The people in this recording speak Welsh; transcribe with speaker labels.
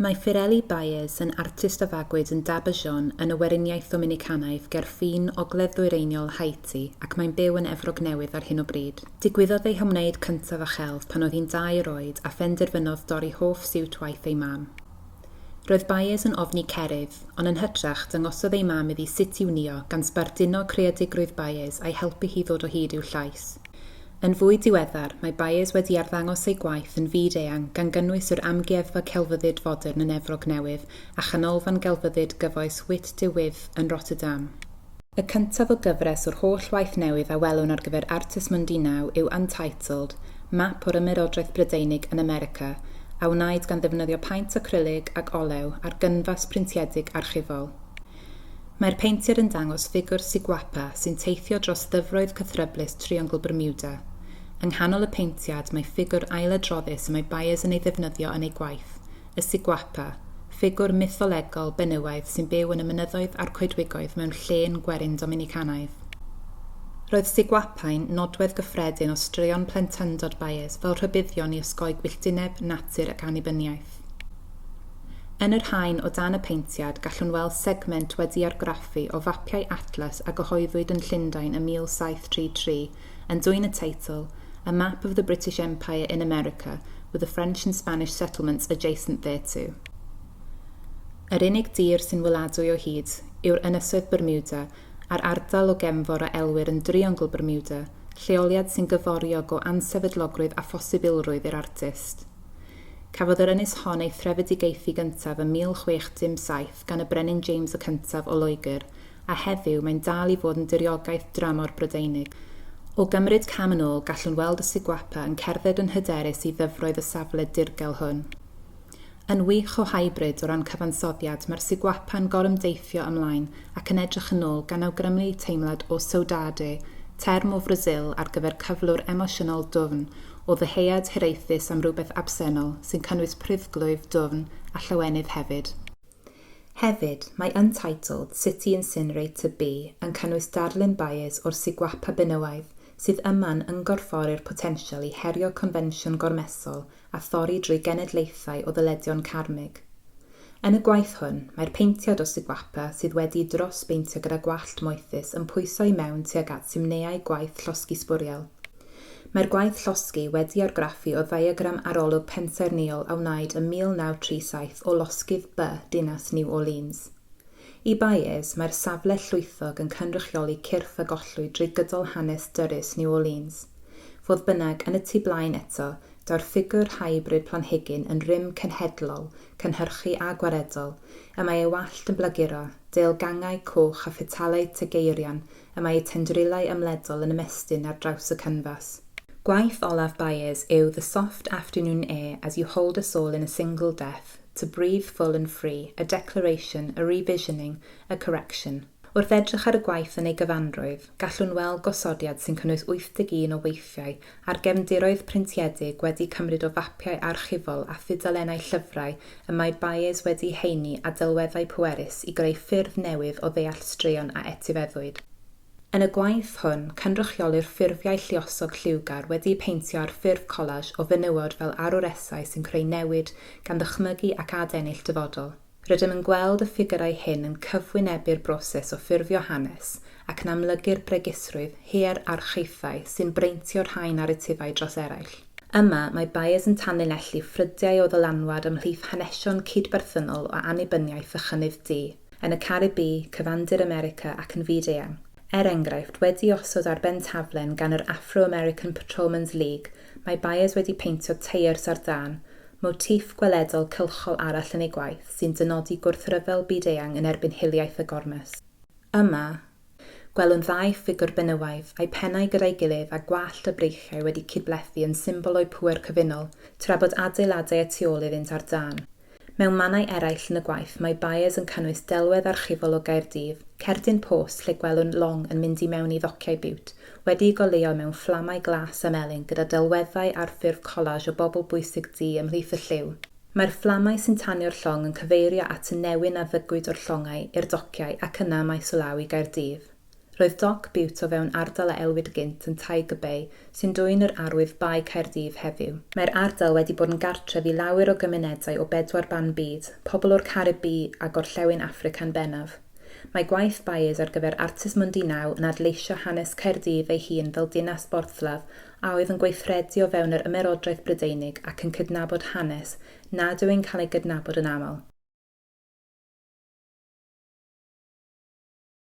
Speaker 1: Mae Firelli Baez yn artist a fagwyd yn Dabajón yn y Weriniaeth Ddominicanaidd ger ffin ogledd-ddwyreiniol Haiti ac mae'n byw yn Efrog Newydd ar hyn o bryd. Digwyddodd ei hymwneud cyntaf â chelf pan oedd hi'n dair oed a phenderfynodd dorri hoff siwt waith ei mam. Roedd Byers yn ofni cerrig, ond yn hytrach, dangosodd ei mam iddi sut i'w nio, gan sbarduno creadigrwydd Byers a'i helpu hi ddod o hyd i'w llais. Yn fwy diweddar, mae Byers wedi arddangos ei gwaith yn fyd-eang, gan gynnwys yr Amgueddfa Celfyddyd Fodern yn Efrog Newydd a Chanolfan Gelfyddyd Gyfoes Witte de With yn Rotterdam. Y cyntaf o gyfres o'r holl waith newydd a welwn ar gyfer Artes Mundinau yw Untitled, map o'r Ymerodraeth Brydeinig yn America, a wnaed gan ddefnyddio paent acrylig ac olew ar gynfas printiedig archifol. Mae'r peintiad yn dangos ffigwr Siguapa sy'n teithio dros ddyfroedd cythryblus Triongl Bermuda. Yng nghanol y peintiad mae ffigwr ailadroddus y mae Byers yn ei ddefnyddio yn ei gwaith, y Siguapa, ffigwr mytholegol benywaidd sy'n byw yn y mynyddoedd a'r coedwigoedd mewn llên gwerin Dominicanaidd. Roedd Siguapa'n nodwedd gyffredin o straeon plentyndod Baez fel rhybuddion i osgoi gwylltineb, natur ac annibyniaeth. Yn yr haen o dan y paentiad gallwn weld segment wedi'i argraffu o fapiau atlas a gyhoeddwyd yn Llundain ym 1733 yn dwyn y teitl A Map of the British Empire in America with the French and Spanish Settlements Adjacent Thereto. Yr unig dir sy'n weladwy o hyd yw'r Ynysoedd Bermuda a'r ardal o gefnfor a elwir yn Driongl Bermuda, lleoliad sy'n gyforiog o ansefydlogrwydd a phosibilrwydd i'r artist. Cafodd yr ynys hon ei threfedigaethu gyntaf ym 1617 gan y Brenin James y Cyntaf o Loegr a heddiw mae'n dal i fod yn diriogaeth dramor Brydeinig. O gymryd cam yn ôl, gallwn weld y Siguapa yn cerdded yn hyderus i ddyfroedd y safle dirgel hwn. Yn wych o hybrid o ran cyfansoddiad, mae'r Siguapa'n gorymdeithio ymlaen ac yn edrych yn ôl gan awgrymu teimlad o saudade, term o Frasil ar gyfer cyflwr emosiynol dwfn, o ddyheuad hiraethus am rywbeth absennol sy'n cynnwys pruddglwyf dwfn a llawenydd hefyd. Hefyd, mae Untitled, City Incinerator B yn cynnwys darlun bays o'r Siguapa benywaidd, sydd yma'n ymgorffori'r potensial i herio confensiwn gormesol a thorri drwy genedlaethau o ddyledion carmig. Yn y gwaith hwn, mae'r paentiad o Siguapa sydd wedi'i drosbeintio gyda gwallt moethus yn pwyso i mewn tuag at simneiau gwaith llosgi sbwriel. Mae'r gwaith llosgi wedi argraffu o ddiagram arolwg pensaernïol a wnaed ym 1937 o losgydd by dinas New Orleans. I Baez, mae'r safle llwythog yn cynrychioli cyrff a gollwyd drwy gydol hanes dyrys New Orleans. Fodd bynnag, yn y tu blaen eto, daw'r ffigwr hybrid planhigyn yn rym cenhedlol, cynhyrchu a gwaredol, y mae ei wallt yn blaguro, deilgangau coch a phetalau tŷ geirion y mae eu tendrilau ymledol yn ymestyn ar draws y canfas. Gwaith olaf Baez yw The Soft Afternoon Air as You Hold Us All in a Single Death, To Breathe Full and Free, A Declaration, A Revisioning, A Correction. Wrth edrych ar y gwaith yn ei gyfanrwydd, gallwn weld gosodiad sy'n cynnwys 81 o weithiau a'r gefndiroedd printiedig wedi cymryd o fapiau archifol a thudalennau llyfrau y mae Baez wedi'u heini â delweddau pwerus i greu ffyrdd newydd o ddeall straeon a etifeddwyd. Yn y gwaith hwn, cynrychiolir ffurfiau lluosog lliwgar wedi'u peintio ar ffurf collage o fenywod fel arwresau sy'n creu newid gan ddychmygu ac adennill dyfodol. Rydym yn gweld y ffigyrau hyn yn cyfwynebu'r broses o ffurfio hanes ac yn amlygu'r bregusrwydd hierarchaethau sy'n breintio rhai naratifau dros eraill. Yma, mae Byers yn tanlinellu ffrydiau o ddylanwad ymhlith hanesion cydberthynol o annibyniaeth a chynnydd du, yn y Caribî, Cyfandir America ac yn fyd-eang, er enghraifft, wedi'i osod ar ben taflen gan yr Afro-American Patrolmen's League Mae Byers wedi peintio teiars ar dân, motiff gweledol cylchol arall yn ei gwaith sy'n dynodi gwrthryfel byd-eang yn erbyn hiliaeth y gormes. Yma, gwelwn ddau ffigwr benywaidd, a'u pennau gyda'i gilydd a gwallt a breichiau wedi cydblethu yn symbol o'u pŵer cyfunol, tra bod adeiladau y tu ôl iddynt ar dân. Mewn mannau eraill yn y gwaith mae Byers yn cynnwys delwedd archifol o Gaerdydd, cerdyn post lle gwelwn Long yn mynd i mewn i ddociau Bute, wedi'i goleuo mewn fflamau glas a melyn gyda delweddau ar ffurf collage o bobl bwysig du ymhlith y lliw. Mae'r fflamau sy'n tanio'r llong yn cyfeirio at y newyn a ddygwyd o'r llongau i'r dociau ac yna mae Sulawi Gaerdydd. Roedd Doc Bute o fewn ardal a elwid gynt yn Tiger Bay, sy'n dwyn yr arwydd Bae Caerdydd heddiw. Mae'r ardal wedi bod yn gartref i lawer o gymunedau o bedwar ban byd, pobl o'r Caribî a Gorllewin Affrica'n bennaf. Mae gwaith Baez ar gyfer Artist Mundi Now yn adleisio hanes Caerdydd ei hun fel dinas borthladd a oedd yn gweithredu o fewn yr Ymerodraeth Brydeinig ac yn cydnabod hanes nad yw'n cael ei gydnabod yn aml.